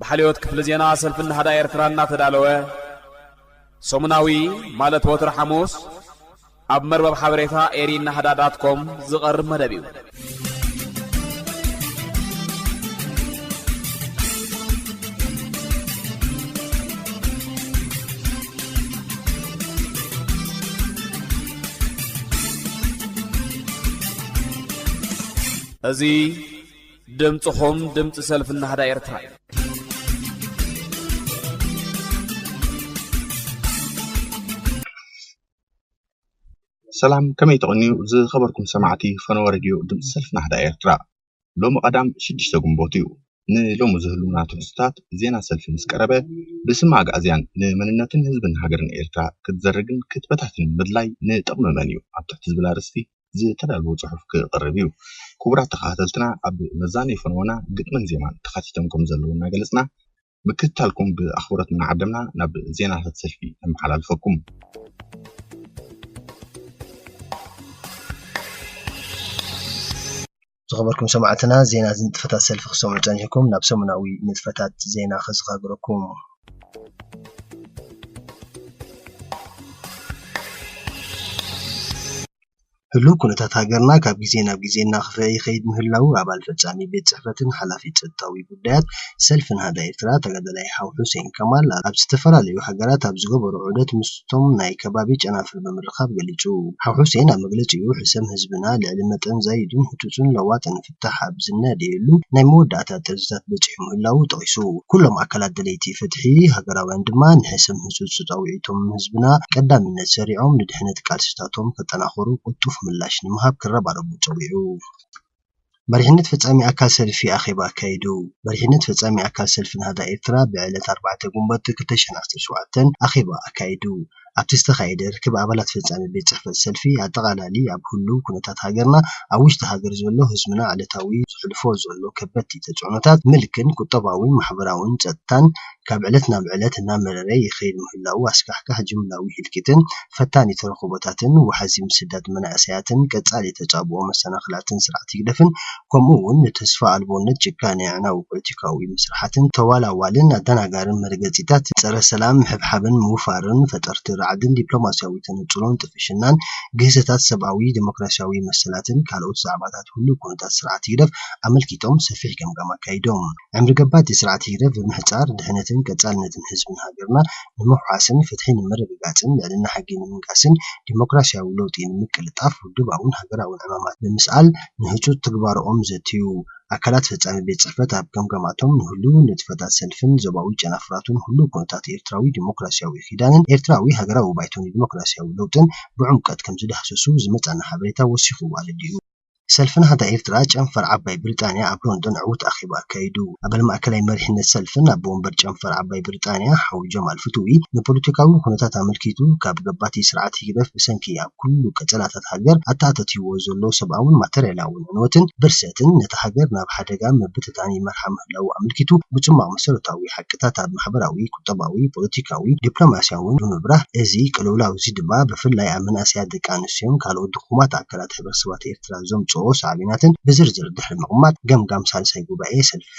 ብሓልዮት ክፍሊ ዜና ሰልፊ ናህዳ ኤርትራ እናተዳለወ ሰሙናዊ ማለት ወትሪ ሓሙስ ኣብ መርበብ ሓበሬታ ኤሪ ናህዳ ዳት ኮም ዝቐርብ መደብ እዩ። እዚ ድምጽኹም ድምጺ ሰልፊ ናህዳ ኤርትራ እዩ። ሰላም ከመይ ተቐንዩ ዝኸበርኩም ሰማዕቲ ፈነወ ረድዮ ድምፂ ሰልፊ ናህዳ ኤርትራ ሎሚ ቀዳም ሽዱሽተ ግንቦት እዩ ንሎሚ ዝህሉና ትሕዝቶታት ዜና ሰልፊ ምስ ቀረበ ብስም ኣግኣዝያን ንመንነትን ህዝብን ሃገርን ኤርትራ ክትዘርግን ክትበታትንን ምድላይ ንጥቕሚ መን እዩ ኣብ ትሕቲ ዝብል ኣርእስቲ ዝተዳለወ ጽሑፍ ክቐርብ እዩ። ክቡራት ተኸታተልትና ኣብ መዛነዪ ፈነወና ግጥምን ዜማን ተኻቲቶም ከም ዘለዉ እናገለጽና ምክትታልኩም ብኣኽብሮት እናዓደምና ናብ ዜናታት ሰልፊ ነመሓላልፈኩም። ዝኸበርኩም ሰማዕትና ዜናት ንጥፈታት ሰልፊ ክትሰምዑ ጸኒሕኩም ናብ ሰሙናዊ ንጥፈታት ዜና ከዘኻግረኩም። ህሉው ኩነታት ሃገርና ካብ ግዜ ናብ ግዜ እናኸፍኣ ይኸይድ ምህላዉ ኣባል ፈጻሚ ቤት ጽሕፈትን ሓላፊ ጸጥታዊ ጉዳያት ሰልፊ ናህዳ ኤርትራ ተጋዳላይ ሓው ሑሴን ከማል ኣብ ዝተፈላለዩ ሃገራት ኣብ ዝገበሮ ዑደት ምስቶም ናይ ከባቢ ጨናፍር ብምርኻብ ገሊጹ። ሓው ሑሴን ኣብ መግለጺኡ ሕሰም ህዝብና ልዕሊ መጠን ዛይዱን ህጹጽን ለዋጥን ፍታሕ ኣብ ዝናደየሉ ናይ መወዳእታ ጥርዚታት በጺሑ ምህላዉ ጠቒሱ ኩሎም ኣካላት ደለይቲ ፍትሒ ሃገራውያን ድማ ንሕሰም ህጹጽ ጻውዒቶም ህዝብና ቀዳምነት ሰሪዖም ንድሕነት ቃልሲታቶም ከጠናኽሩ ቅልጡፍ ምላሽ ንምሃብ ክረባረቡ ጸዊዑ። መሪሕነት ፈጻሚ ኣካል ሰልፊ ኣኼባ ኣካይዱ። መሪሕነት ፈጻሚ ኣካል ሰልፊ ናህዳ ኤርትራ ብዕለት ኣርባዕተ ግንቦት ክልተ ሽሕን ዓሰርተ ሸውዓተን ኣኼባ ኣካይዱ። ኣብቲ ዝተኻየደ ርክብ ኣባላት ፈጻሚ ቤት ጽሕፈት ሰልፊ ኣጠቓላሊ ኣብ ህሉው ኩነታት ሃገርና ኣብ ውሽጢ ሃገር ዘሎ ህዝብና ዕለታዊ ዘሕልፎ ዘሎ ከበድቲ ተጽዕኖታት ምልክን ቁጠባዊን ማሕበራዊን ጸጥታን ካብ ዕለት ናብ ዕለት እናመረረ ይኸይድ ምህላዉ ኣስካሕካሒ ጅምላዊ ህልቂትን ፈታኒ ተረኽቦታትን ዋሕዚ ምስዳድ መናእሰያትን ቀጻሊ ተጻብኦ መሰናኽላትን ስርዓት ህግደፍን ከምኡ'ውን ንተስፋ ኣልቦነት ጭካነ ኣዕናዊ ፖለቲካዊ መስርሓትን ተዋላዋልን ኣደናጋርን መርገጺታት ጸረ ሰላም ምሕብሓብን ምውፋርን ፈጠርቲ ራዕድን ዲፕሎማስያዊ ተነጽሎን ጥፍሽናን ግህሰታት ሰብኣዊ ደሞክራስያዊ መሰላትን ካልኦት ዛዕባታት ህሉው ኩነታት ስርዓት ህግደፍ ኣመልኪቶም ሰፊሕ ገምጋም ኣካይዶም። ዕምሪ ገባቲ ስርዓት ህግደፍ ብምሕጻር ድሕነትን ቀጻልነትን ህዝብን ሃገርና ንምውሓስን ፍትሒ ንምርግጋጽን ልዕልና ሕጊ ንምንጋስን ዲሞክራስያዊ ለውጢ ንምቅልጣፍ ውድባውን ሃገራውን ዕማማት ብምስኣል ንህጹጽ ትግባረኦም ዘትዩ ኣካላት ፈጻሚ ቤት ጽሕፈት ኣብ ገምጋማቶም ንህሉው ንጥፈታት ሰልፍን ዞባዊ ጨናፍራቱን ህሉው ኩነታት ኤርትራዊ ዲሞክራስያዊ ኪዳንን ኤርትራዊ ሃገራዊ ባይቶንዲሞክራስያዊ ለውጥን ብዕምቀት ከምዝዳህሰሱ ዝመጸና ሓበሬታ ወሲኹ ኣረዲኡ። ሰልፊ ናህዳ ኤርትራ ጨንፈር ዓባይ ብሪጣንያ ኣብ ሎንዶን ዕዉት ኣኼባ ኣካይዱ። ኣባል ማእከላይ መሪሕነት ሰልፍን ኣቦ ወንበር ጨንፈር ዓባይ ብሪጣንያ ሓው ጀማል ፍትዊ ንፖለቲካዊ ኩነታት ኣመልኪቱ ካብ ገባቲ ስርዓት ህግደፍ ብሰንኪ ኣብ ኩሉ ቀጸላታት ሃገር ኣተኣታትይዎ ዘሎ ሰብኣውን ማተርያላውን ዕንወትን ብርሰትን ነታ ሃገር ናብ ሓደጋ ምብትታን ይመርሓ ምህላዉ ኣመልኪቱ ብጽሟቕ መሰረታዊ ሓቅታት ኣብ ማሕበራዊ፣ ቁጠባዊ፣ ፖለቲካዊ፣ ዲፕሎማስያውን ብምብራህ እዚ ቅልውላውዚ ድማ ብፍላይ ኣብ መንእሰያት ደቂ ኣንስትዮን ካልኦት ድኹማት ኣካላት ርእሰባት ኤርትራ ዘምጽኦ ሳዕቤናትን ብዝርዝር ድሕሪ ምቕማጥ፣ ገምጋም ሳልሳይ ጉባኤ ሰልፊ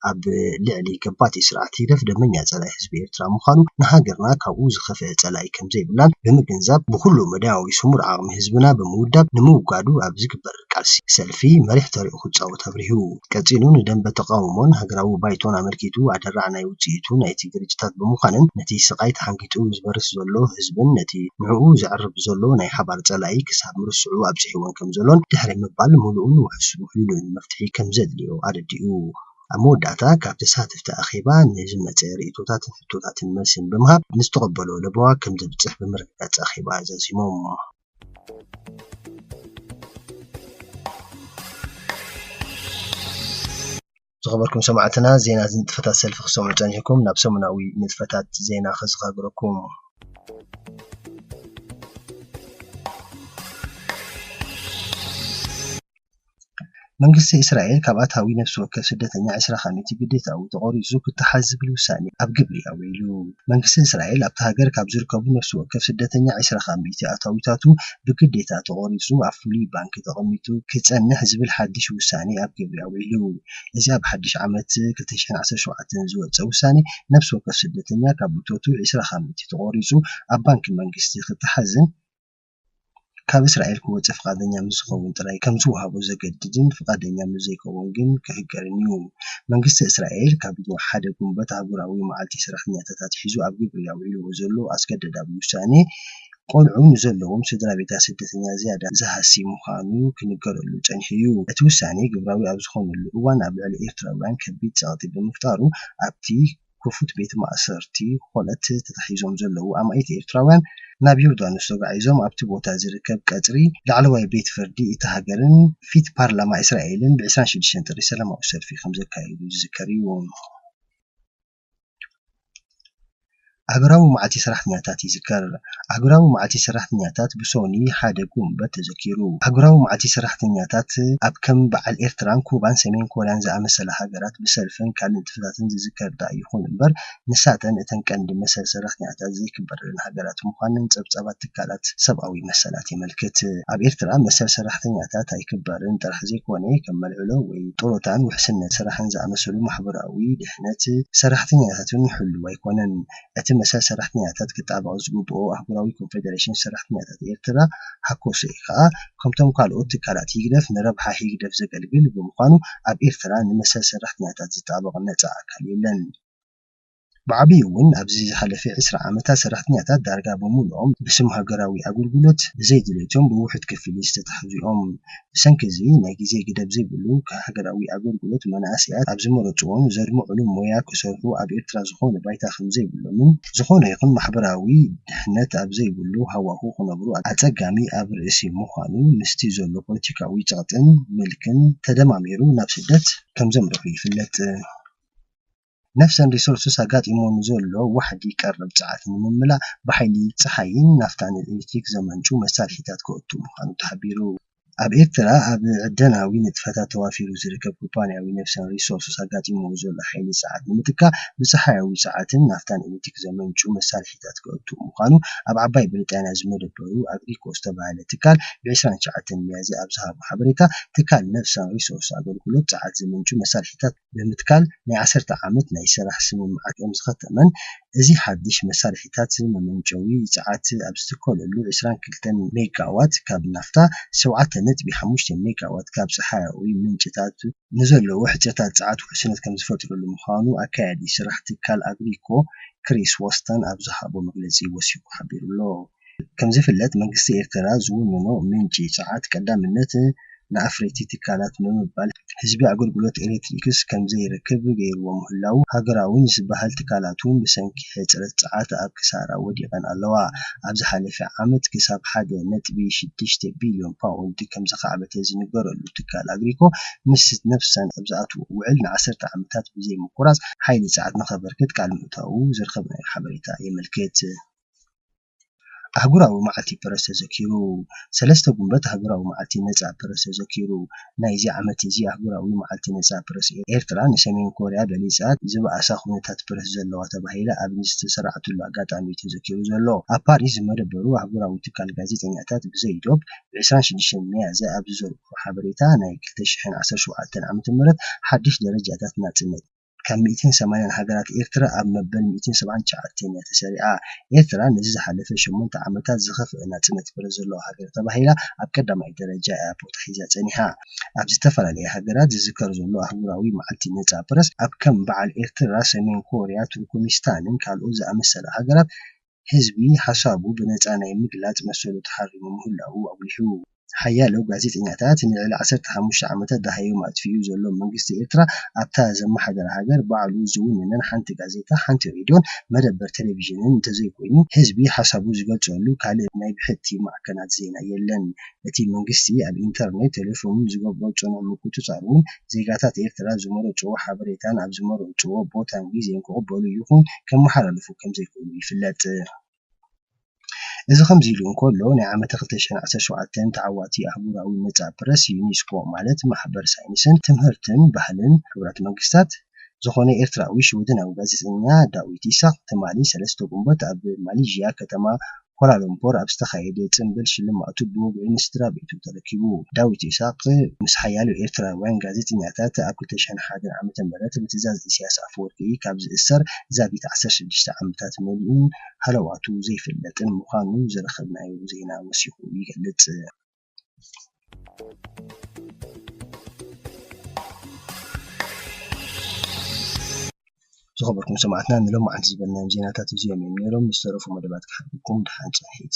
ኣብ ልዕሊ ገባቲ ስርዓት ህግደፍ ደመኛ ጸላኢ ህዝቢ ኤርትራ ምዃኑ፣ ንሃገርና ካብኡ ዝኸፍኤ ጸላኢ ከምዘይብላን ብምግንዛብ፣ ብኹሉ መዳያዊ ስሙር ዓቕሚ ህዝብና ብምውዳብ ንምውጋዱ ኣብ ዝግበር ቃልሲ ሰልፊ መሪሕ ተርኡ ክጻወት ኣብሪሁ። ቀጺሉ ንደምበ ተቓውሞን ሃገራዊ ባይቶን ኣመልኪቱ ኣደራዕ ናይ ውጽኢቱ ናይቲ ግርጭታት ብምዃንን ነቲ ስቓይ ተሓንጊጡ ዝበርስ ዘሎ ህዝብን ነቲ ንዕኡ ዘዕርብ ዘሎ ናይ ሓባር ጸላኢ ክሳብ ምርስዑ ኣብጺሕዎን ከምዘሎን ድሕሪ ምባል ምሉእን ውሕሉልን መፍትሒ ከምዘድልዮ ኣረዲኡ። ኣብ መወዳእታ ካብ ተሳተፍቲ ኣኼባ ንዝመጸ ርእይቶታትን ሕቶታትን መልስን ብምሃብ ንዝተቐበሎ ለበዋ ከምዘብጽሕ ብምርግጋጽ ኣኼባ ዛዚሞም። ዝኸበርኩም ሰማዕትና ዜና ዝንጥፈታት ሰልፊ ክሰምዑ ጸኒሕኩም ናብ ሰሙናዊ ንጥፈታት ዜና ከዘኻግረኩም መንግስቲ እስራኤል ካብ ኣታዊ ነፍሲ ወከፍ ስደተኛ ዕስራ ካሚኢቲ ግዴታኡ ተቖሪጹ ክተሓዝ ዝብል ውሳኔ ኣብ ግብሪ ኣውዒሉ። መንግስቲ እስራኤል ኣብታ ሃገር ካብ ዝርከቡ ነፍሲ ወከፍ ስደተኛ ዕስራ ካሚኢቲ ኣታዊታቱ ብግዴታ ተቖሪጹ ኣብ ፍሉይ ባንኪ ተቐሚጡ ክጸንሕ ዝብል ሓድሽ ውሳኔ ኣብ ግብሪ ኣውዒሉ። እዚ ኣብ ሓድሽ ዓመት ክልተ ሽሕን ዓሰርተ ሸውዓተን ዝወጸ ውሳኔ ነፍሲ ወከፍ ስደተኛ ካብ እቶቱ ዕስራ ካሚኢቲ ተቖሪጹ ኣብ ባንኪ መንግስቲ ክተሓዝን ካብ እስራኤል ክወጽእ ፍቓደኛ ምስ ዝኸውን ጥራይ ከም ዝወሃቦ ዘገድድን ፍቓደኛ ምስ ዘይከውን ግን ክህገርን እዩ። መንግስቲ እስራኤል ካብ ሓደ ግንቦት ኣህጉራዊ መዓልቲ ሰራሕተኛታት ኣትሒዙ ኣብ ግብሪ ኣውዒልዎ ዘሎ ኣስገደዳዊ ውሳኔ ቆልዑ ንዘለዎም ስድራቤታት ስደተኛ ዝያዳ ዝሃሲ ምዃኑ ክንገረሉ ጸኒሑ እዩ። እቲ ውሳኔ ግብራዊ ኣብ ዝኾነሉ እዋን ኣብ ልዕሊ ኤርትራውያን ከቢድ ጸቕጢ ብምፍጣሩ ኣብቲ ክፉት ቤት ማእሰርቲ ዀነት ተታሒዞም ዘለዉ ኣማኢት ኤርትራውያን ናብ ዮርዳኖስ ተጓዒዞም ኣብቲ ቦታ ዝርከብ ቀጽሪ ላዕለዋይ ቤት ፍርዲ እታ ሃገርን ፊት ፓርላማ እስራኤልን ብ ዕስራን ሽዱሽተን ጥሪ ሰላማዊ ሰልፊ ከምዘካየዱ ዝዝከር እዩ። ኣህጉራዊ መዓልቲ ሰራሕተኛታት ይዝከር። ኣህጉራዊ መዓልቲ ሰራሕተኛታት ብሶኑይ ሓደ ጉንበት ተዘኪሩ። ኣህጉራዊ መዓልቲ ሰራሕተኛታት ኣብ ከም በዓል ኤርትራን ኩባን ሰሜን ኮርያን ዝኣመሰላ ሃገራት ብሰልፍን ካልእን ፕሮጀክትታትን ዝዝከር ደኣ ይኹን እምበር፣ ንሳተን እተን ቀንዲ መሰል ሰራሕተኛታት ዘይክበረለን ሃገራት ምዃነን ጸብጻባት ትካላት ሰብኣዊ መሰላት የመልክት። ኣብ ኤርትራ መሰል ሰራሕተኛታት ኣይክበርን ጥራሕ ዘይኮነ፣ ከም መልዕሎ ወይ ጡሮታን ውሕስነት ስራሕን ዝኣመሰሉ ማሕበራዊ ድሕነት ሰራሕተኛታት'ውን ሕሉው ኣይኮነን። እቲ መሰል ሰራሕተኛታት ክጣበቕ ዝግብኦ ኣህጉራዊ ኮንፌደሬሽን ሰራሕተኛታት ኤርትራ፣ ሃኮሰኤ፣ ከኣ ከምቶም ካልኦት ትካላት ህግደፍ ንረብሓ ህግደፍ ዘገልግል ብምዃኑ ኣብ ኤርትራ ንመሰል ሰራሕተኛታት ዝጣበቕ ነጻ ኣካል የለን። ብዓቢኡ ውን ኣብዚ ዝሓለፈ ዕስራ ዓመታት ሰራሕተኛታት ዳርጋ ብምሉኦም ብስም ሃገራዊ ኣገልግሎት ብዘይ ድሌቶም ብውሑድ ክፍሊት ዝተታሕዙ'ዮም። ብሰንኪ እዚ ናይ ግዜ ገደብ ዘይብሉ ሃገራዊ ኣገልግሎት መናእሰያት ኣብ ዝመረጽዎን ዘድምዕሉ ሞያ ክሰርሑ ኣብ ኤርትራ ዝኾነ ባይታ ከምዘይብሎምን ዝኾነ ይኹን ማሕበራዊ ድሕነት ኣብ ዘይብሉ ሃዋሁ ክነብሩ ኣጸጋሚ ኣብ ርእሲ ምዃኑ ምስቲ ዘሎ ፖለቲካዊ ጸቕጥን ምልክን ተደማሚሩ ናብ ስደት ከምዘምርሑ ይፍለጥ። ነፍሰን ሪሶርስስ ኣጋጢምዎ ንዘሎ ዋሕዲ ቀረብ ጸዓት ንምምላእ ብሓይሊ ጸሓይን ናፍታን ኤሌክትሪክ ዘመንጩ መሳርሒታት ከእቱ ምዃኑ ተሓቢሩ። ኣብ ኤርትራ ኣብ ዕደናዊ ንጥፈታት ተዋፊሩ ዝርከብ ኩባንያዊ ነፍሰን ሪሶርስስ ኣጋጢምዎ ዘሎ ሓይሊ ጸዓት ንምትካእ ብጸሓያዊ ጸዓትን ናፍታን ኤሌክትሪክ ዘመንጩ መሳርሒታት ከእቱ ምዃኑ ኣብ ዓባይ ብሪጣንያ ዝመደበሩ ኣግሪኮ ዝተባህለ ትካል ብ ዕስራን ትሽዓተን ሚያዝያ ኣብ ዝሃቦ ሓበሬታ ትካል ነፍሰን ሪሶርስስ ኣገልግሎት ጸዓት ዘመንጩ መሳርሒታት ብምትካል ናይ ዓሰርተ ዓመት ናይ ስራሕ ስምምዓት እዮም ዝኸተመን እዚ ሓድሽ መሳርሒታት መመንጨዊ ጸዓት ኣብ ዝትከለሉ ዕስራን ክልተን ሜጋዋት ካብ ናፍታ፣ ሸውዓተ ነጥቢ ሓሙሽተ ሜጋዋት ካብ ጸሓያዊ ምንጭታት፣ ንዘለዉ ሕጽረታት ጸዓት ውሕስነት ከምዝፈጥረሉ ምዃኑ ኣካያዲ ስራሕ ትካል ኣግሪኮ ክሪስ ዎስተን ኣብ ዝሃቦ መግለጺ ወሲኹ ሓቢሩ'ሎ። ከምዝፍለጥ መንግስቲ ኤርትራ ዝውንኖ ምንጪ ጸዓት ቀዳምነት ንኣፍረይቲ ትካላት ብምባል ህዝቢ ኣገልግሎት ኤሌክትሪክስ ከምዘይረክብ ገይርዎ ምህላዉ ሃገራውን ዝበሃል ትካላት'ውን ብሰንኪ ሕጽረት ጸዓት ኣብ ክሳራ ወዲቐን ኣለዋ ኣብ ዝሓለፈ ዓመት ክሳብ ሓደ ነጥቢ ሽዱሽተ ቢልዮን ፓውንድ ከምዘኻዕበተ ዝንገረሉ ትካል ኣግሪኮ ምስ ነፍሳን ኣብ ዝኣትዎ ውዕል ንዓሰርተ ዓመታት ብዘይምቁራጽ ሓይሊ ጸዓት ንኸበርክት ቃል ምእታዉ ዝረኸብናዮ ሓበሬታ የመልክት። ኣህጉራዊ መዓልቲ ፕረስ ተዘኪሩ። ሰለስተ ጉንበት ኣህጉራዊ መዓልቲ ነጻ ፕረስ ተዘኪሩ። ናይዚ ዓመት'ዚ ኣህጉራዊ መዓልቲ ነጻ ፕረስ፣ ኤርትራ ንሰሜን ኮርያ በሊጻ ዝበኣሰ ኩነታት ፕረስ ዘለዋ ተባሂላ ኣብ ንዝተሰራዕትሉ ኣጋጣሚ'ዩ ተዘኪሩ ዘሎ። ኣብ ፓሪስ ዝመደበሩ ኣህጉራዊ ትካል ጋዜጠኛታት ብዘይ ዶብ ብ ዕስራን ሽዱሽተን ሚያዝያ ኣብ ዝዘርግሑ ሓበሬታ፣ ናይ ክልተ ሽሕን ዓሰርተ ሸውዓተን ዓመተ ምህረት ሓድሽ ደረጃታት ናጽነት፣ ካብ ሚእትን ሰማንያን ሃገራት ኤርትራ ኣብ መበል ሚእትን ሰብዓን ትሽዓተን እያ ተሰሪዓ። ኤርትራ ነዚ ዝሓለፈ ሸሞንተ ዓመታት ዝኸፍኣ ናጽነት ፍረ ዘለዎ ሃገር ተባሂላ ኣብ ቀዳማይ ደረጃ እያ ቦታ ሒዛ ጸኒሓ። ኣብ ዝተፈላለያ ሃገራት ዝዝከር ዘሎ ኣህጉራዊ መዓልቲ ነጻ ፕረስ ኣብ ከም በዓል ኤርትራ፣ ሰሜን ኮርያ፣ ቱርኩሚስታንን ካልኦት ዝኣመሰላ ሃገራት ህዝቢ ሓሳቡ ብነጻ ናይ ምግላጽ መሰሉ ተሓሪሙ ምህላዉ ኣጉሊሑ። ሓያሎ ጋዜጠኛታት ንልዕሊ ዓሰርተ ሓሙሽተ ዓመታት ደሃዮም ኣጥፊኡ ዘሎ መንግስቲ ኤርትራ ኣብታ ዘመሓድራ ሃገር ባዕሉ ዝውንነን ሓንቲ ጋዜጣ፣ ሓንቲ ሬድዮን መደበር ተለቪዥንን እንተዘይኮይኑ ህዝቢ ሓሳቡ ዝገልጸሉ ካልእ ናይ ብሕቲ ማዕከናት ዜና የለን። እቲ መንግስቲ ኣብ ኢንተርኔት፣ ቴሌፎንን ዝገብሮ ጽኑዕ ምቁጽጻርን፣ ዜጋታት ኤርትራ ዝመረጽዎ ሓበሬታን ኣብ ዝመረጽዎ ቦታን ግዜን ክቕበሉ ይኹን ከመሓላልፉ ከምዘይክእሉ ይፍለጥ። እዚ ከምዚ ኢሉ እንከሎ፣ ናይ ዓመተ ክልተ ሽሕን ዓሰርተ ሸውዓተን ተዓዋቲ ኣህጉራዊ ነጻ ፕረስ፣ ዩኒስኮ፣ ማለት ማሕበር ሳይንስን ትምህርትን ባህልን ሕቡራት መንግስታት፣ ዝኾነ ኤርትራዊ ሽወደናዊ ጋዜጠኛ ዳዊት ኢሳቕ ትማሊ ሰለስተ ጉንበት ኣብ ማሊዥያ ከተማ ኳላላምፖር ኣብ ዝተኻየደ ጽንብል ሽልማቱ ብወግዒ ንስድራቤቱ ተረኪቡ። ዳዊት ኢሳቕ ምስ ሓያሎ ኤርትራውያን ጋዜጠኛታት ኣብ ክልተ ሽሕን ሓደን ዓመተ ምህረት ብትእዛዝ ኢሳያስ ኣፈወርቂ ካብ ዝእሰር ዛጊት ዓሰርተ ሽዱሽተ ዓመታት መሊኡን ሃለዋቱ ዘይፍለጥን ምዃኑ ዝረኸብናዮ ዜና ወሲኹ ይገልጽ። ዝኸበርኩም ሰማዕትና ንሎማዓንቲ ዝበልናዮም ዜናታት እዚኦም እዮም ነይሮም ምስ ተረፉ መደባት ክሓልኩም ድሓን ፅንሒት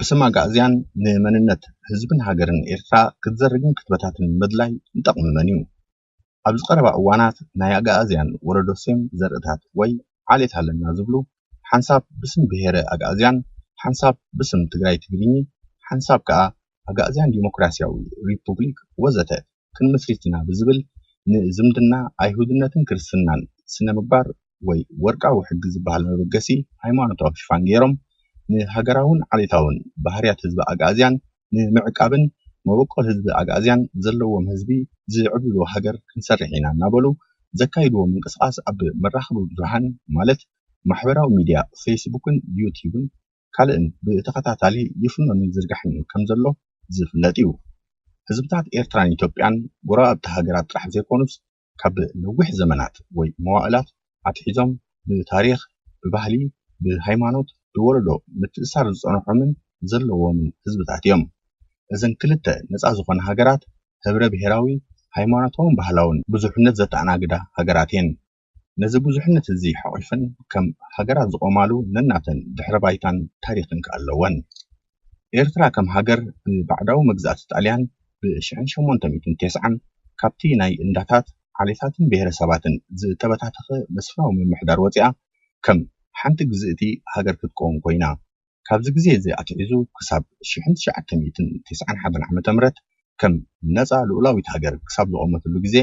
ብስም ኣግኣዝያን ንመንነት ህዝብን ሃገርን ኤርትራ ክትዘርግን ክትበታትን ምድላይ ንጠቕሚ መን እዩ? ኣብዚ ቀረባ እዋናት ናይ ኣግኣዝያን ወለዶ ሴም ዘርእታት ወይ ዓሌት ኣለና ዝብሉ ሓንሳብ ብስም ብሄረ ኣግኣዝያን፣ ሓንሳብ ብስም ትግራይ-ትግርኚ፣ ሓንሳብ ከኣ ኣግኣዝያን ዲሞክራሲያዊ ሪፑብሊክ ወዘተ ክንምስሪት ኢና ብዝብል ንዝምድና ኣይሁድነትን ክርስትናን ስነ ምግባር ወይ ወርቃዊ ሕጊ ዝበሃል መበገሲ ሃይማኖታዊ ሽፋን ገይሮም ንሃገራውን ዓሌታውን ባህርያት ህዝቢ ኣግኣዝያን ንምዕቃብን መበቆል ህዝቢ ኣግኣዝያን ዘለዎም ህዝቢ ዝዕብልሉ ሃገር ክንሰርሕ ኢና እናበሉ ዘካይድዎ ምንቅስቓስ ኣብ መራኸቢ ብዙሃን ማለት ማሕበራዊ ሚድያ ፌስቡክን ዩትዩብን ካልእን ብተኸታታሊ ይፍኖን ይዝርጋሕን ከምዘሎ ዝፍለጥ እዩ። ህዝብታት ኤርትራን ኢትዮጵያን ጎረባብቲ ሃገራት ጥራሕ ዘይኮኑስ ካብ ነዊሕ ዘመናት ወይ መዋእላት ኣትሒዞም ብታሪኽ፣ ብባህሊ፣ ብሃይማኖት ብወለዶ ምትእስሳር ዝጸንሖምን ዘለዎምን ህዝብታት እዮም። እዘን ክልተ ነጻ ዝኾና ሃገራት ህብረ-ብሄራዊ፣ ሃይማኖታውን ባህላውን ብዙሕነት ዘተኣናግዳ ሃገራት እየን። ነዚ ብዙሕነት እዚ ሓቚፈን ከም ሃገራት ዝቖማሉ ነናተን ድሕረ ባይታን ታሪኽን ከኣ ኣለወን። ኤርትራ ከም ሃገር ብባዕዳዊ መግዛእቲ ጣልያን ብ ሽሕን ሸሞንተ ሚእትን ቴስዓን ካብቲ ናይ እንዳታት፣ ዓሌታትን ብሄረሰባትን ዝተበታተኸ መስፍናዊ ምምሕዳር ወጺኣ ከም ሓንቲ ግዝእቲ ሃገር ክትቀውም ኮይና። ካብዚ ግዜ እዚ ኣትሒዙ ክሳብ ሽሕን ትሽዓተ ሚእትን ተስዓን ሓደን ዓመተ ምህረት ከም ነጻ ልኡላዊት ሃገር ክሳብ ዝቖመትሉ ግዜ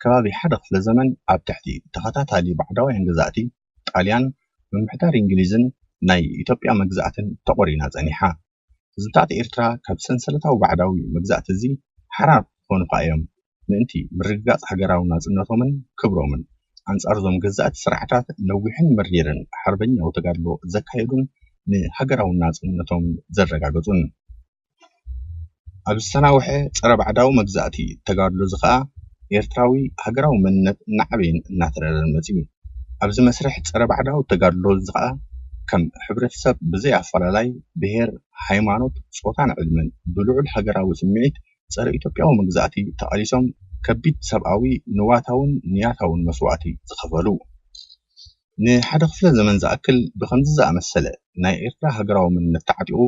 ከባቢ ሓደ ክፍለ ዘመን ኣብ ትሕቲ ተኸታታሊ ባዕዳውያን ገዛእቲ ጣልያን፣ ምምሕዳር እንግሊዝን ናይ ኢትዮጵያ መግዛእትን ተቖሪና ጸኒሓ። ህዝብታት ኤርትራ ካብ ሰንሰለታዊ ባዕዳዊ መግዛእቲ እዚ ሓራ ክኾኑ ከኣ'ዮም። ምእንቲ ምርግጋጽ ሃገራዊ ናጽነቶምን ክብሮምን፣ ኣንጻር'ዞም ገዛእቲ ስርዓታት ነዊሕን መሪርን ሓርበኛዊ ተጋድሎ ዘካየዱን ንሃገራዊ ናጽነቶም ዘረጋገጹን። ኣብ ዝተናውሐ ጸረ-ባዕዳዊ መግዛእቲ ተጋድሎ'ዚ ከኣ፣ ኤርትራዊ ሃገራዊ መንነት እናዓበየን እናተረረን መጺኡ። ኣብ'ዚ መስርሕ ጸረ-ባዕዳዊ ተጋድሎ'ዚ ከኣ፣ ከም ሕብረተሰብ ብዘይ ኣፈላላይ ብሄር፣ ሃይማኖት፣ ጾታን ዕድመን፣ ብልዑል ሃገራዊ ስምዒት ጸረ ኢትዮጵያዊ መግዛእቲ ተቓሊሶም ከቢድ ሰብኣዊ፣ ንዋታውን ንያታውን መስዋእቲ ዝኸፈሉ። ንሓደ ክፍለ ዘመን ዝኣክል ብኸምዚ ዝኣመሰለ ናይ ኤርትራ ሃገራዊ መንነት ተዓጢቑ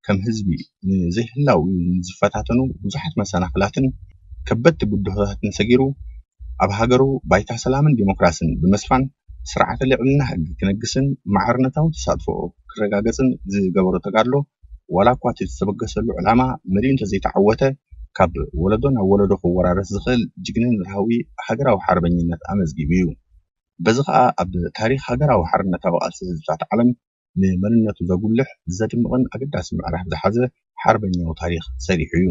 ከም ህዝቢ ንዘይህላውኡ ንዝፈታተኑ ብዙሓት መሰናኽላትን ከበድቲ ብድሆታትን ሰጊሩ ኣብ ሃገሩ ባይታ ሰላምን ዲሞክራስን ብምስፋን ስርዓተ ልዕልና ሕጊ ክነግስን ማዕርነታዊ ተሳትፎኡ ክረጋገጽን ዝገበሮ ተጋድሎ ዋላ እኳ እቲ ዝተበገሰሉ ዕላማ መሊኡ እንተዘይተዓወተ ካብ ወለዶ ናብ ወለዶ ክወራረስ ዝኽእል ጅግንነታዊ ሃገራዊ ሓርበኝነት ኣመዝጊቡ እዩ። በዚ ከኣ ኣብ ታሪኽ ሃገራዊ ሓርነታዊ ቃልሲ ህዝብታት ዓለም ንመንነቱ ዘጉልሕ፣ ዘድምቕን ኣገዳሲ ምዕራፍ ዝሓዘ ሓርበኛዊ ታሪኽ ሰሪሑ እዩ።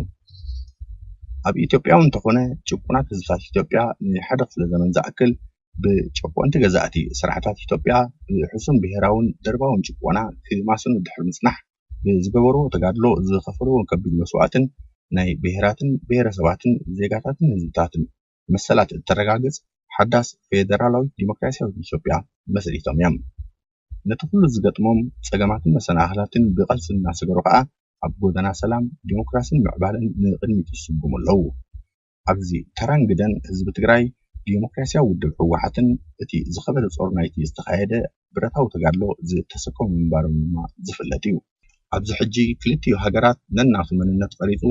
ኣብ ኢትዮጵያውን እንተኾነ ጭቁናት ህዝብታት ኢትዮጵያ ንሓደ ክፍለ ዘመን ዝኣክል ብጨቆንቲ ገዛእቲ ስርዓታት ኢትዮጵያ ብሕሱም ብሄራውን ደርባውን ጭቆና ክማስኑ ድሕሪ ምፅናሕ ብዝገበርዎ ተጋድሎ ዝኸፈልዎ ከቢድ መስዋእትን ናይ ብሄራትን ብሄረሰባትን ዜጋታትን ህዝብታትን መሰላት እተረጋግፅ ሓዳስ ፌደራላዊት ዲሞክራሲያዊት ኢትዮጵያ መስሪቶም እዮም። ነቲ ኩሉ ዝገጥሞም ጸገማትን መሰናኽላትን ብቐልሲ እናሰገሩ ከኣ ኣብ ጎደና ሰላም፣ ዲሞክራስን ምዕባለን ንቕድሚት ይስጉሙ ኣለዉ። ኣብዚ ተራን ግደን ህዝቢ ትግራይ ብዴሞክራሲያዊ ውድብ ህወሓትን እቲ ዝኸበደ ፆር ናይቲ ዝተኻየደ ብረታዊ ተጋድሎ ዝተሰከሙ ምንባሮም ድማ ዝፍለጥ እዩ። ኣብዚ ሕጂ ክልቲኡ ሃገራት ነናቱ መንነት ቐሪፁ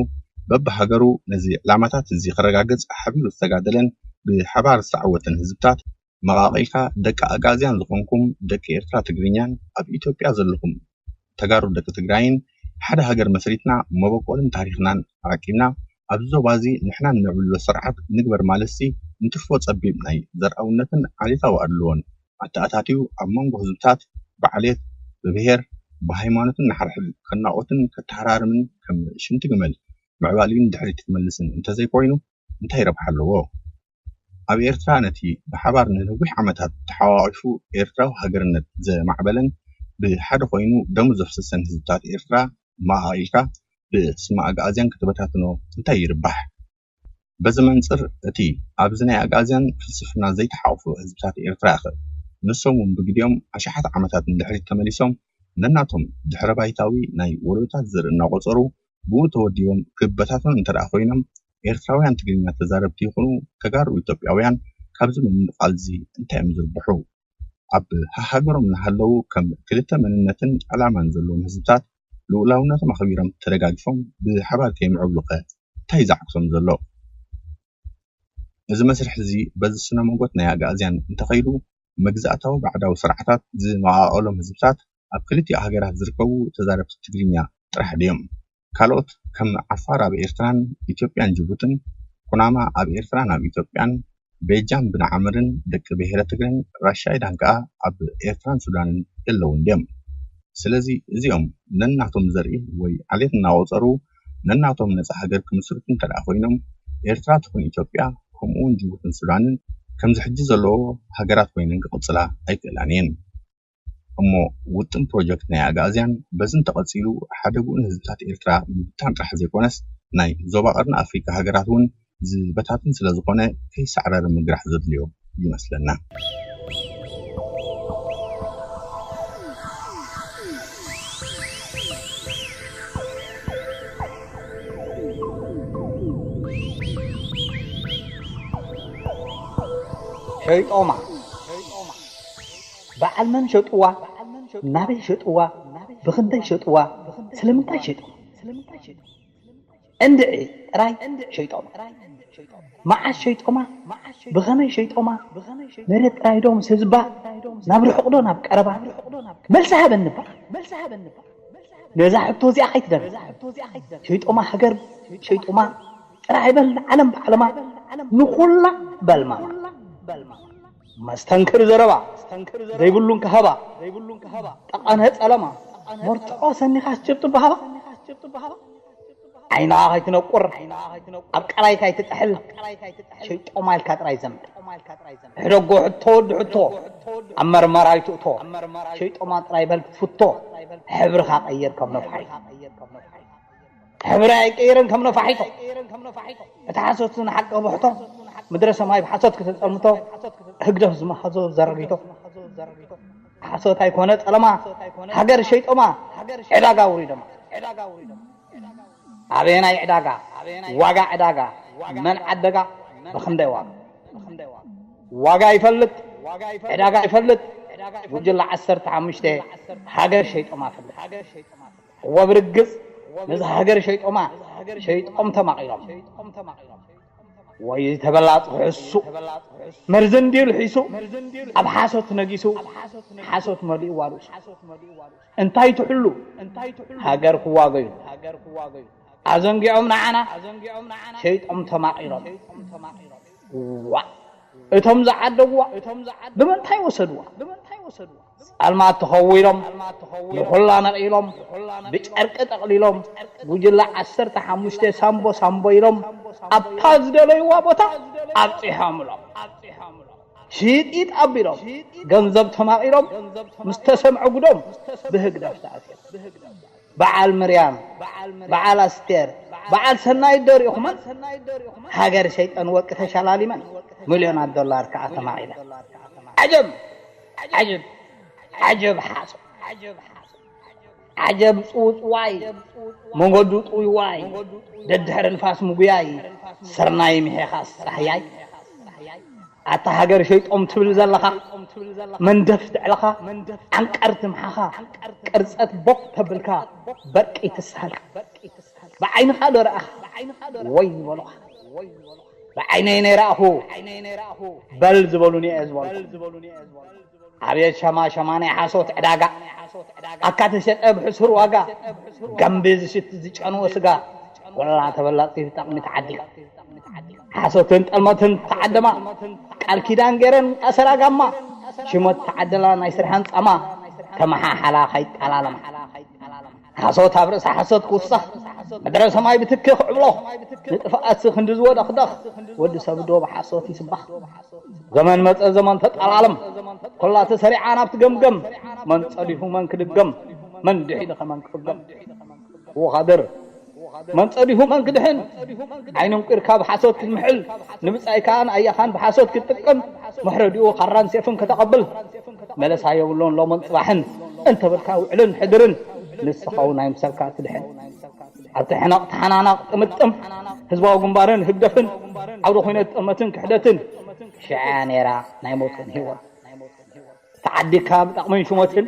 በብሃገሩ ነዚ ዕላማታት እዚ ክረጋገፅ ሓቢሩ ዝተጋደለን ብሓባር ዝተዓወተን ህዝብታት፣ መቃቂልካ ደቂ ኣግኣዝያን ዝኮንኩም ደቂ ኤርትራ ትግርኛን ኣብ ኢትዮጵያ ዘለኩም ተጋሩ ደቂ ትግራይን ሓደ ሃገር መስሪትና መበቆልን ታሪክናን ኣቀቂብና ኣብዚ ዞባ እዚ ንሕና ነዕብልሎ ስርዓት ንግበር ማለትሲ ንትርፎ ጸቢብ ናይ ዘርኣውነትን ዓሌታዊ ኣድልዎን ኣተኣታትዩ ኣብ መንጎ ህዝብታት ብዓሌት ብብሄር ብሃይማኖትን ንሓርሕድ ከናቆትን ከተሃራርምን ከም ሽንቲ ግመል ምዕባልዩን ድሕሪት ክመልስን እንተዘይኮይኑ እንታይ ረብሓ ኣለዎ? ኣብ ኤርትራ ነቲ ብሓባር ንነዊሕ ዓመታት ተሓቛቒፉ ኤርትራዊ ሃገርነት ዘማዕበለን ብሓደ ኮይኑ ደሙ ዘፍሰሰን ህዝብታት ኤርትራ መቓቒልካ ብስመ ኣግኣዝያን ክትበታትኖ እንታይ ይርባሕ? በዚ መንጽር እቲ ኣብዚ ናይ ኣግኣዝያን ፍልስፍና ዘይተሓቝፈ ህዝብታት ኤርትራ'ኸ ንሶም'ውን ብግዲኦም ኣሽሓት ዓመታት ንድሕሪት ተመሊሶም ነናቶም ድሕረባይታዊ ናይ ወለዶታት ዘርኢ እናቖጸሩ ብኡ ተወዲቦም ክበታተኑ እንተደኣ ኮይኖም ኤርትራውያን ትግርኛ ተዛረብቲ ይኹኑ ተጋሩ ኢትዮጵያውያን ካብዚ ምምቕቓልዚ እንታይ'ዮም ዝርብሑ? ኣብ ሃሃገሮም እናሃለዉ ከም ክልተ መንነትን ዕላማን ዘለዎም ህዝብታት ልኡላውነቶም ኣኽቢሮም ተደጋጊፎም ብሓባር ከይምዕብሉ'ኸ እንታይ ዘዓግቶም ዘሎ? እዚ መስርሕዚ በዚ ስነ-ሞጎት ናይ ኣግኣዝያን እንተኸይዱ መግዛእታዊ ባዕዳዊ ስርዓታት ዝመቓቐሎም ህዝብታት ኣብ ክልቲኡ ሃገራት ዝርከቡ ተዛረብቲ ትግርኛ ጥራሕ ድዮም? ካልኦት ከም ዓፋር ኣብ ኤርትራን ኢትዮጵያን ጅቡትን፣ ኩናማ ኣብ ኤርትራን ኣብ ኢትዮጵያን፣ ቤጃን ብንዓምርን ደቂ ብሄረ ትግረን ራሻይዳን ከኣ ኣብ ኤርትራን ሱዳንን የለዉን ድዮም? ስለዚ እዚኦም ነናቶም ዘርኢ ወይ ዓሌት እናቖጸሩ ነናቶም ነጻ ሃገር ክምስርቱ እንተድኣ ኮይኖም ኤርትራ ትኹን ኢትዮጵያ ከምኡ'ውን ጅቡትን ሱዳንን ከምዚ ሕጂ ዘለዎ ሃገራት ኮይነን ክቕጽላ ኣይክእላን እየን። እሞ ውጥን ፕሮጀክት ናይ ኣግኣዝያን በዚ እንተቐጺሉ ሓደግኡ ንህዝብታት ኤርትራ ምብታን ጥራሕ ዘይኮነስ ናይ ዞባ ቀርኒ ኣፍሪቃ ሃገራት'ውን ዝበታትን ስለዝኾነ ከይሳዕረረ ምግራሕ ዘድልዮ ይመስለና። ሄይ ጦማ! በዓል መን ሸጥዋ ናበይ ሸጥዋ ብኽንደይ ሸጥዋ ስለምንታይ ሸጥዋ እንድዒ ጥራይ ሸይጦማ መዓስ ሸይጦማ ብኸመይ ሸይጦማ መሬት ጥራይ ዶ ምስ ህዝባ ናብ ርሑቕ ዶ ናብ ቀረባ መልሲ ሃበኒ እባ ነዛ ሕቶ እዚኣ ከይትደግማ ሸይጦማ ሃገር ሸይጦማ ጥራይ በል ንዓለም ባዕልማ ንኹላ በልማማ። መስተንክር ዘረባ ዘይብሉን ከሀባ ጠቐነ ጸለማ መርትዖ ሰኒኻስ ጭብጢ በሀባ ዓይና ከይትነቁር ኣብ ቀላይ ካይትጥሕል ሸይጦማ ኢልካ ጥራይ ዘምር ሕደጎ ሕቶ ወዲ ሕቶ ኣብ መርመራ ኣይትእቶ ሸይጦማ ጥራይ በል ክትፍቶ ሕብርኻ ቀይር ከም ነፋሒቶ ሕብሪ ኣይቅይርን ከም ነፋሒቶ እቲ ሓሶት ንሓቂ ብሕቶ ምድረ ሰማይ ብሓሶት ክተጸልምቶ ህግደፍ ዝመሃዞ ዘረጊቶ ሓሶት ኣይኮነ ጸለማ ሃገር ሸይጦማ ዕዳጋ ኣውሪዶማ ኣበየናይ ዕዳጋ ዋጋ ዕዳጋ መን ዓደጋ ብኽንደይ ዋጋ ዋጋ ይፈልጥ ዕዳጋ ይፈልጥ ጉጅለ ዓሰርተ ሓሙሽተ ሃገር ሸይጦማ ፈልጥ እወ ብርግጽ ነዛ ሃገር ሸይጦማ ሸይጦም ተማቒሎም ወይ ተበላጽ ክሕሱ መርዚ እንድዩ ልሒሱ ኣብ ሓሶት ነጊሱ ሓሶት መሊእዋ ርእሱ እንታይ ትሕሉ ሃገር ክዋገዩሉ ኣዘንጊዖም ንዓና ሸይጦም ተማቒሎም ዋእ እቶም ዝዓደጉዋ ብምንታይ ወሰዱዋ ጻልማት ተኸዊሎም ንኹላ ነቒሎም ብጨርቂ ጠቕሊሎም ጉጅለ ዓሰርተ ሓሙሽተ ሳምቦ ሳምቦ ኢሎም ኣብታ ዝደለይዋ ቦታ ኣብጺሖምሎም ሽይጢጥ ኣቢሎም ገንዘብ ተማቒሎም ምስ ተሰምዐ ጉዶም ብህግደፍ ተኣሲሮም በዓል ምርያም በዓል ኣስቴር በዓል ሰናይት ዶ ሪኢኹመን ሃገር ሸይጠን ወርቂ ተሸላሊመን ምልዮናት ዶላር ከኣ ተማቒለን ዓጀብ ዓጅብ ዓጀብ ሓሶት ዓጀብ ጽውጽዋይ መንገዱ ጥውይዋይ ደድሕሪ ንፋስ ምጉያይ ስርናይ ምሒኻ ስራሕያይ። ኣታ ሃገር ሸይጦም ትብል ዘለኻ መንደፍት ዕለኻ ዓንቀር ትምሓኻ ቅርጸት ቦኽ ተብልካ በርቂ ትስሃልካ ብዓይንኻ ዶ ረኣኻ ወይ ዝበሉኻ ብዓይነይ ነይረኣኹ በል ዝበሉኒ'የ ዝበልኩ። ኣብየት ሸማሸማ ናይ ሓሶት ዕዳጋ ኣካ ተሸጠ ብሕሱር ዋጋ ጋምቢ ዝሽት ዝጨንወ ስጋ ወላ ተበላጽቲ ተጠቅሚት ዓዲጋ ሓሶትን ጠልመትን ተዓደማ ቃል ኪዳን ገረን ኣሰራ ጋማ ሽመት ተዓደላ ናይ ስርሐን ጻማ ተመሓሓላ ካይጣላለማ ሓሶት ኣብ ርእሲ ሓሶት ክውሰኽ፣ ምድረ ሰማይ ብትኪ ክዕብሎኽ፣ ንጥፍኣትሲ ክንዲ ዝወደኽደኽ፣ ወዲ ሰብዶ ብሓሶት ይስበኽ። ዘመን መጸ ዘመን ተጣላለም፣ ኩላ ተሰሪዓ ናብቲ ገምገም፣ መን ጸዲፉ መን ክድገም፣ መን ድሒኑኸ መን ክፍገም። ወኻድር መን ጸዲፉ መን ክድሕን፣ ዓይኒ ኣንቊርካ ብሓሶት ክትምሕል፣ ንብጻይ ከኣ ንኣያኻን ብሓሶት ክትጥቅም፣ መሕረዲኡ ካራን ሴፍን ከተቐብል፣ መለሳ የብሉን ሎምን ጽባሕን እንተበልካ ውዕልን ሕድርን ንስኻ ውን ኣይምሰልካ ትድሕን ኣብቲ ሕነቕ ተሓናናቕ ጥምጥም ህዝባዊ ግንባርን ህግደፍን ዓውደ ኩነት ጥልመትን ክሕደትን ሽዕያ ነይራ ናይ ሞትን ሂወት ተዓዲካ ብጠቕምን ሹመትን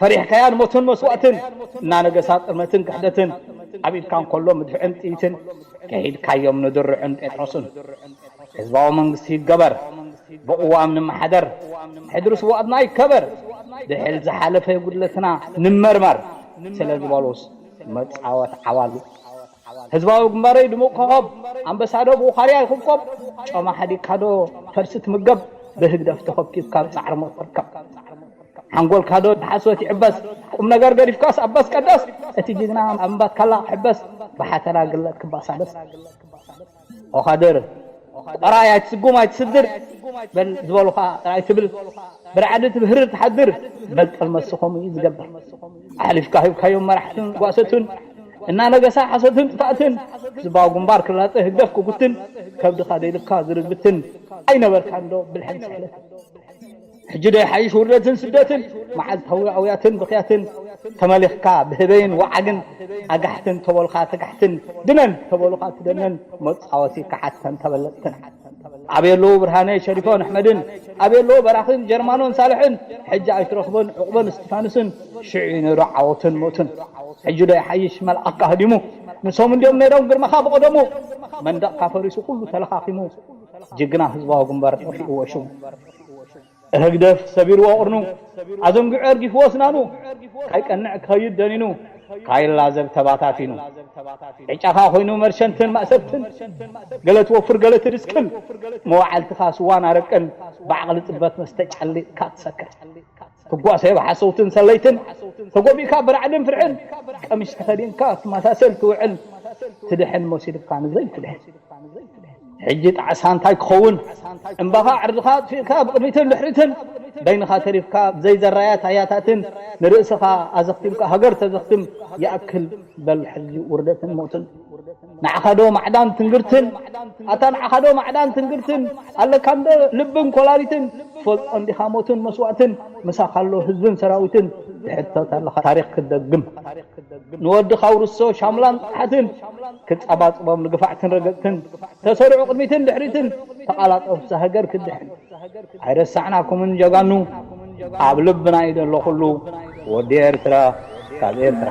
ፈሪሕካያ ንሞትን መስዋእትን እናነገሳ ጥልመትን ክሕደትን ኣብ ኢድካ እንከሎ ምድፍዕን ጥይትን ከሂድካዮም ንድርዕን ጴጥሮስን ህዝባዊ መንግስቲ ይገበር፣ ብቕዋም ንመሓደር፣ ሕድሪ ስውኣትና ይከበር፣ ብሕል ዝሓለፈ ጉድለትና ንመርመር ስለ ዝበሉስ መጻወት ዓዋሉ ህዝባዊ ግንባረይ ድሙቕ ኮኾብ ኣንበሳዶ ብውኻርያ ይኹብኮብ ጮማ ሓዲግካዶ ፈልሲ ትምገብ ብህግደፍ ተኾብኪብካ ጻዕሪ ሞት ትርከብ ሓንጎልካዶ ብሓሶት ይዕበስ ቁም ነገር ገዲፍካስ ኣበስ ቀደስ እቲ ጅግና ኣብ እምባትካላ ክሕበስ ብሓተላ ግለት ክባሳበስ ኦኻድር ቆራይ ኣይትስጉም ኣይትስድር በል ዝበሉኻ ጥራይ ትብል ብራዕዲ ትብህርር ትሓድር በል ጥርመስ ኸምኡ እዩ ዝገብር ኣሕሊፍካ ሂብካዮም መራሕትን ጓሰትን እናነገሳ ሓሶትን ጥፍኣትን ዝባው ግንባር ክላጸ ህግደፍ ክጉትን ከብድኻ ደልብካ ዝርግትን ኣይነበርካንዶ ብልሕን ስሕለትን ሕጂ ዶ ይሓይሽ ውርደትን ስደትን መዓልታዊ ኣውያትን ብኽያትን ተመሊኽካ ብህበይን ወዓግን ኣጋሕትን ተበሉኻ ተጋሕትን ድነን ተበሉኻ ትደንን መጻወቲ ከሓድተን ተበለጽትን። ኣበይ ኣለዉ ብርሃነ ሸሪፎን ኣሕመድን ኣበይ ኣለዉ በራኺን ጀርማኖን ሳልሕን ሕጂ ኣይትረኽቦን ዑቕበን እስቲፋኖስን ሽዑ እዩ ነይሩ ዓወቱን ሞቱን ሕጂ ዶ ይሓይሽ መልኣኽካ ህዲሙ ንሶም እንድዮም ነይሮም ግርማኻ ብቐደሙ መንደቕካ ፈሪሱ ኩሉ ተለኻኺሙ ጅግና ህዝባዊ ግንባር ጠፊእዎ ሽሙ ህግደፍ ሰቢርዎ ቁርኑ ኣዘንጊዑ ኣርጊፍዎ ኣስናኑ ካይቀንዕ ክኸይድ ደኒኑ ካይላዘብ ተባታቲኑ ዕጫኻ ኮይኑ መርሸንትን ማእሰርትን ገለ ትወፍር ገለ ትድስክል መዋዕልትኻ ስዋን ኣረቅን ብዓቕሊ ጽበት መስተ ጨሊጥካ ትሰክር ትጓሰዮ ብሓሰውትን ሰለይትን ተጎቢእካ ብራዕድን ፍርሕን ቀሚሽ ተኸዲንካ ትመሳሰል ትውዕል ትድሕን መሲሉካ ንዘይትድሕን ሕጂ ጣዕሳ እንታይ ክኸውን እምባኻ ዕርድኻ ኣጥፊእካ ብቕድሚትን ድሕሪትን በይንኻ ተሪፍካ ብዘይ ዘራያት ኣያታትን ንርእስኻ ኣዘኽቲምካ ሃገር ተዘኽትም ይኣክል በል ሕጂ ውርደትን ሞትን ንዓኻ ዶ ማዕዳን ትንግርትን ኣታ ንዓኻ ዶ ማዕዳን ትንግርትን ኣለካ እንዶ ልብን ኮላሊትን ትፈልጦ እንዲኻ ሞትን መስዋእትን ምሳኻ ኣሎ ህዝብን ሰራዊትን ትሕተት ኣለኻ ታሪኽ ክትደግም ንወድኻ ኣውርሶ ሻምላን ጥፍሓትን ክጸባጽቦም ንግፋዕትን ረገጽትን ተሰርዑ ቅድሚትን ድሕሪትን ተቓላጠፍቲ ሃገር ክትድሕን ኣይረሳዕናኩምን ጀጋኑ ኣብ ልብና እዩ ዘሎ ኩሉ ወዲ ኤርትራ ካብ ኤርትራ